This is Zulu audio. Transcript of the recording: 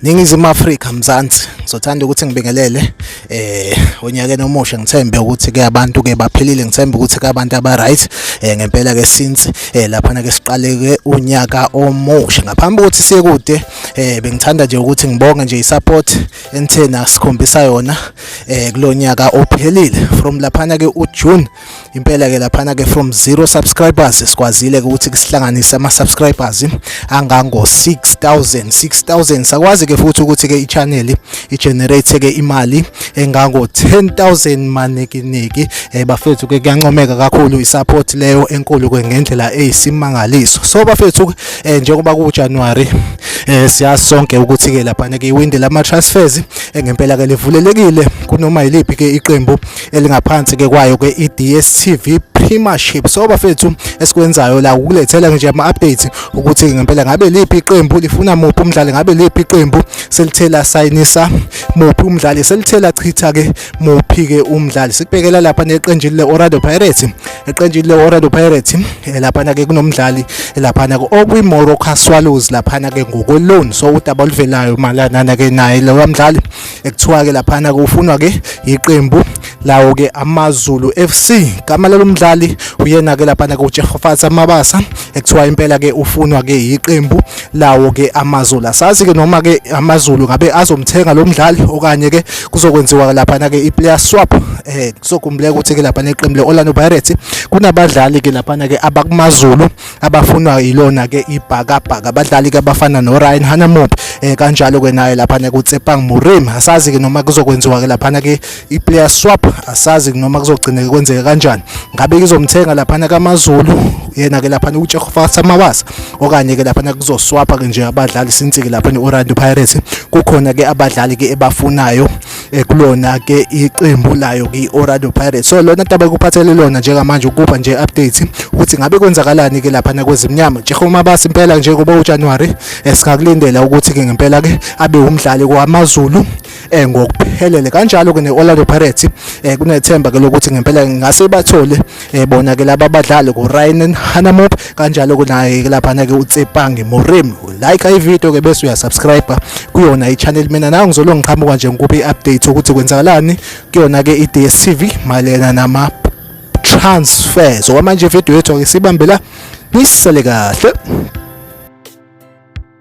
Ningizimu Afrika Mzansi ngizothanda ukuthi ngibingelele eh onyakeni omusha ngithembe ukuthi ke abantu ke baphilile ngithembe ukuthi ke abantu aba right eh ngempela ke since eh lapha na ke siqaleke unyaka omusha ngaphambi ukuthi siye kude eh bengithanda nje ukuthi ngibonge nje isupport enithena sikhombisa yona eh kulonyaka ophelile from laphana ke uJune impela ke laphana ke from 0 subscribers sikwazile ukuthi kusihlanganise ama subscribers angango 6000 6000 sakwazi ke futhi ukuthi ke ichannel igenerate ke imali engango 10000 manekiniki eh bafethu ke kuyancomeka kakhulu isupport leyo enkulu ke ngendlela eyisimangaliso so bafethu eh njengoba ku January eh siyazi sonke ukuthi ke lapha ke iwindi lama transfers engempela eh, ke livulelekile kunoma yiliphi ke iqembu elingaphansi ke kwayo ke iDStv Premiership so bafethu esikwenzayo la ukulethela nje ama updates ukuthi ngempela ngabe liphi iqembu lifuna muphi umdlali ngabe liphi iqembu selithela sayinisa muphi umdlali selithela chitha ke muphi ke umdlali sikubhekela lapha neqenjini le Orlando Pirates eqenjini le-orlando pirates eh, laphana ke kunomdlali eh, laphana okwi-morocco swallows laphana ke ngokweloni so udaba oluvelayo malanana ke naye lowa mdlali ekuthiwa ke laphana ke ufunwa ke yiqembu lawo ke amazulu fc gama lalo mdlali uyena ke laphana ke ujehofasa mabasa ekuthiwa impela ke ufunwa ke yiqembu lawo ke amazulu asazi ke noma ke amazulu ngabe azomthenga lo mdlali okanye ke kuzokwenziwa laphana ke i-player swap eh kuzokumbuleka ukuthi ke laphana iqembu le-Orlando Pirates kunabadlali ke laphana ke abakumazulu abafunwa yilona ke ibhakabhaka abadlali ke abafana noRyan Hanamop eh kanjalo ke naye laphana kuTsepang Murim asazi ke noma kuzokwenziwa ke laphana ke iplayer swap asazi noma kuzogcineka kwenzeka kanjani ngabe kizomthenga laphana kaMaZulu yena ke laphana uJehova Samawasa okanye ke laphana kuzoswapha ke nje abadlali since ke laphana Orlando Pirates kukhona ke abadlali ke ebafunayo ekulona ke iqembu layo ke Orlando Pirates so lona taba kuphathele lona njengamanje ukuba nje update ukuthi ngabe kwenzakalani ke laphana kwezimnyama Jehova Mabasa impela njengoba uJanuary esikakulindela ukuthi ke ngempela ke abe umdlali kwaMaZulu eh ngokuphelele kanjalo ke neOrlando Pirates eh kunethemba ke lokuthi ngempela ngase bathole eh bona ke laba badlali ku Ryan Hanamop kanjalo ke naye ke lapha na ke uTsepange Morim like i video ke bese uya subscribe kuyona i channel mina nawe ngizolo ngiqhamuka nje ngikuphi update ukuthi kwenzakalani kuyona ke i DStv malena nama transfers okwamanje video yethu ke sibambela nisale kahle